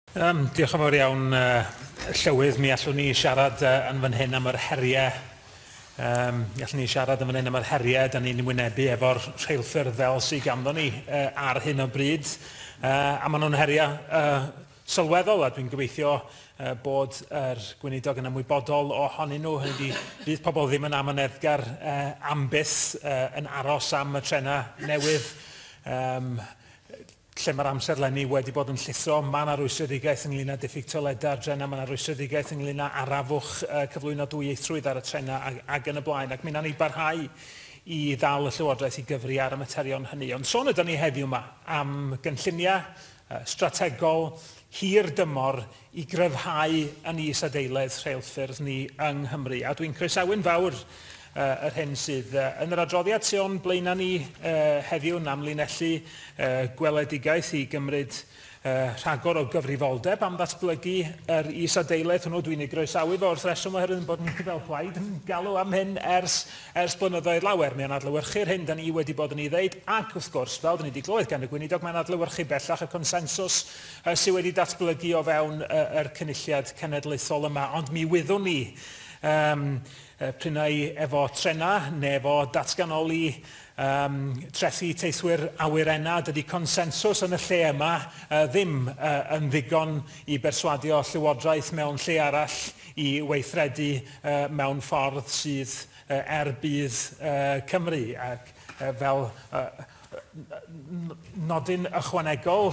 Yym, diolch yn fawr iawn, yy, Llywydd. Mi allwn ni siarad uh, yn fan hyn am yr heriau Um, allwn ni siarad yn fan hyn am yr heriau da ni'n wynebu efo'r rheilffyrdd fel sy'n ganddo ni uh, ar hyn o bryd. Uh, a maen nhw'n heriau uh, sylweddol a dwi'n gobeithio uh, bod yr gweinidog yn ymwybodol ohonyn nhw. Hynny di, fydd pobl ddim yn amyneddgar uh, am byth uh, yn aros am y trenau newydd. Um, Lle mae'r amserlenni wedi bod yn llithro, mae 'na rwystredigaeth ynglŷn â diffyg toiledau ar drenau, mae 'na rwystredigaeth ynglŷn â arafwch, cyflwyno dwyieithrwydd ar y trenau ac, ac yn y blaen, ac mi wnawn ni barhau i ddal y Llywodraeth i gyfri ar y materion hynny. Ond sôn ydan ni heddiw 'ma am gynlluniau strategol hir dymor i gryfhau yn is-adeiledd rheilffyrdd ni yng Nghymru, a dwi'n croesawu'n fawr yr hyn sydd yn yr adroddiad sy o'n blaenau ni heddiw yn amlinellu gweledigaeth i gymryd rhagor o gyfrifoldeb am ddatblygu yr is-adeiledd hwnnw. Dwi'n ei groesawu fo wrth reswm oherwydd ein bod ni fel plaid yn galw am hyn ers ers blynyddoedd lawer. Mae o'n adlewyrchu'r hyn da ni wedi bod yn ei ddeud ac, wrth gwrs, fel da ni wedi clywed gan y Gweinidog, mae'n adlewyrchu bellach y consensws sydd wedi datblygu o fewn yr Cynulliad Cenedlaethol yma, ond mi wyddwn ni, yym, p'un ai efo trenau neu efo datganoli um, trethi teithwyr awyrenna, dydy consensws yn y lle yma uh, ddim uh, yn ddigon i berswadio llywodraeth mewn lle arall i weithredu uh, mewn ffordd sydd uh, er budd uh, Cymru ac uh, fel uh, Nodyn ychwanegol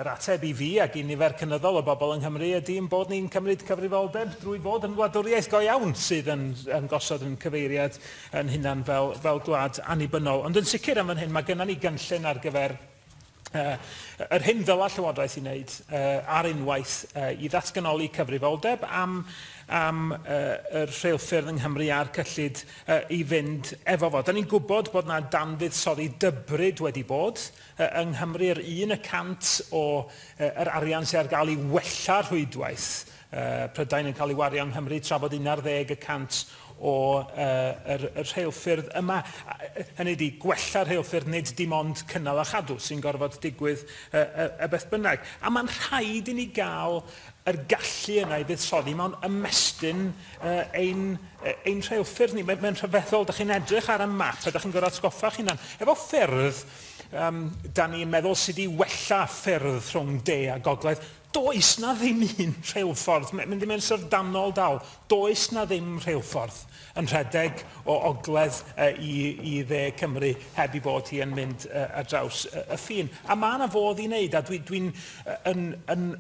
yr ateb i fi ac i nifer cynyddol o bobl yng Nghymru ydy ein bod ni'n cymryd cyfrifoldeb drwy fod yn wladwriaeth go iawn sydd yn, yn gosod yn cyfeiriad yn hunan fel, fel gwlad annibynnol. Ond yn sicr am fan hyn, mae gennym ni gynllun ar gyfer uh, yr hyn ddyla Llywodraeth i wneud uh, ar unwaith uh, i ddatganoli cyfrifoldeb am, am uh, yr rheilffyrdd yng Nghymru a'r cyllid i fynd efo fo. Da ni'n gwybod bod yna danfuddsoddi dybryd wedi bod yng Nghymru, yr un y cant o yr arian sydd ar gael i wella rhwydwaith Prydain yn cael ei wario yng Nghymru, tra bod un ar ddeg y cant o yr rheilffyrdd yma, hynny ydi, gwella rheilffyrdd nid dim ond cynnal a chadw sy'n gorfod digwydd beth bynnag. A mae'n rhaid i ni gael yr gallu yna i fuddsoddi mewn ymestyn ein, ein rheilffyrdd ni. Mae'n mae rhyfeddol, da chi'n edrych ar y map a da chi'n gorau atgoffa chi'n hunan, efo ffyrdd, um, da ni'n meddwl sydd wedi wella ffyrdd rhwng de a gogledd, does na ddim un rheilffordd, mynd i mewn syfrdanol dal, does na ddim rheilffordd yn rhedeg o ogledd uh, i, i dde Cymru heb i bod hi yn mynd uh, ar draws uh, y ffin. A mae yna fodd i wneud, a dwi'n dwi, dwi uh, yn, yn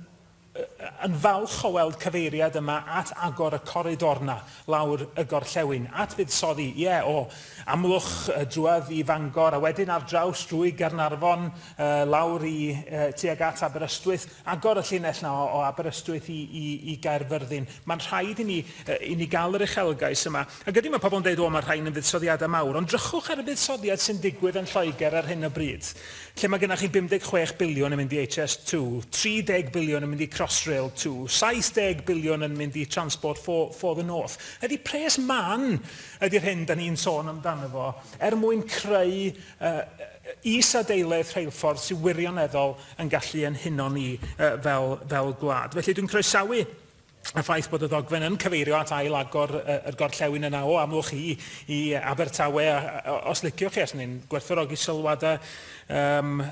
yn falch o weld cyfeiriad yma at agor y coridor 'na lawr y gorllewin, at fuddsoddi, ie, o Amlwch drwodd i Fangor a wedyn ar draws drwy Gaernarfon lawr i tuag at Aberystwyth, agor y llinell 'na o Aberystwyth i Gaerfyrddin. Mae'n rhaid i ni gael yr uchelgais yma. Ac ydy, mae pobl yn deud, 'O, mae'r rhain yn fuddsoddiadau mawr', ond drychwch ar y buddsoddiad sy'n digwydd yn Lloegr ar hyn o bryd, lle mae gennych chi 56 biliwn yn mynd i HS2, 30 biliwn yn mynd i Crossrail 2, 70 biliwn yn mynd i Transport for, for the North. Ydy, pres mân ydy'r hyn da ni'n sôn amdano fo, er mwyn creu uh, is-adeiledd rheilffordd sy'n wirioneddol yn gallu ein huno ni uh, fel, fel gwlad. Felly dwi'n croesawu y ffaith bod y ddogfen yn cyfeirio at ail agor yr gorllewin yna o Amlwch i, i Abertawe, os liciwch chi, os ni'n gwerthorogi sylwadau um,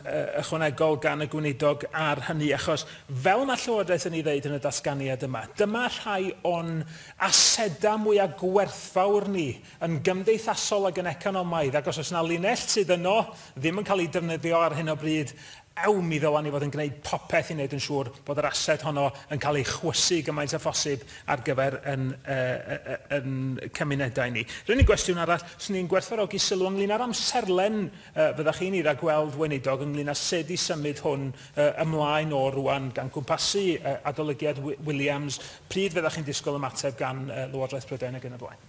ychwanegol gan y gweinidog ar hynny, achos fel mae Llywodraeth yn ei ddeud yn y datganiad yma, dyma rhai o'n asedau mwyaf gwerthfawr ni yn gymdeithasol ac yn economaidd, ac os oes yna linell sydd yno ddim yn cael ei defnyddio ar hyn o bryd, Ew, mi ddylen ni fod yn gwneud popeth i wneud yn siŵr bod yr ased honno yn cael ei chwysu gymaint â phosib ar gyfer yn, yy, yn cymunedau ni. R'yn ni gwestiwn arall. 'Swn i'n gwerthfawrogi sylw ynglŷn â'r amserlen, yy, fyddech chi'n ei ragweld, Weinidog, ynglŷn â sut y symud hwn, yy, ymlaen o rŵan, gan gwmpasu, yy, Adolygiad Williams, pryd fyddech chi'n disgwyl ymateb gan, yy, Lywodraeth Prydain ac yn y blaen.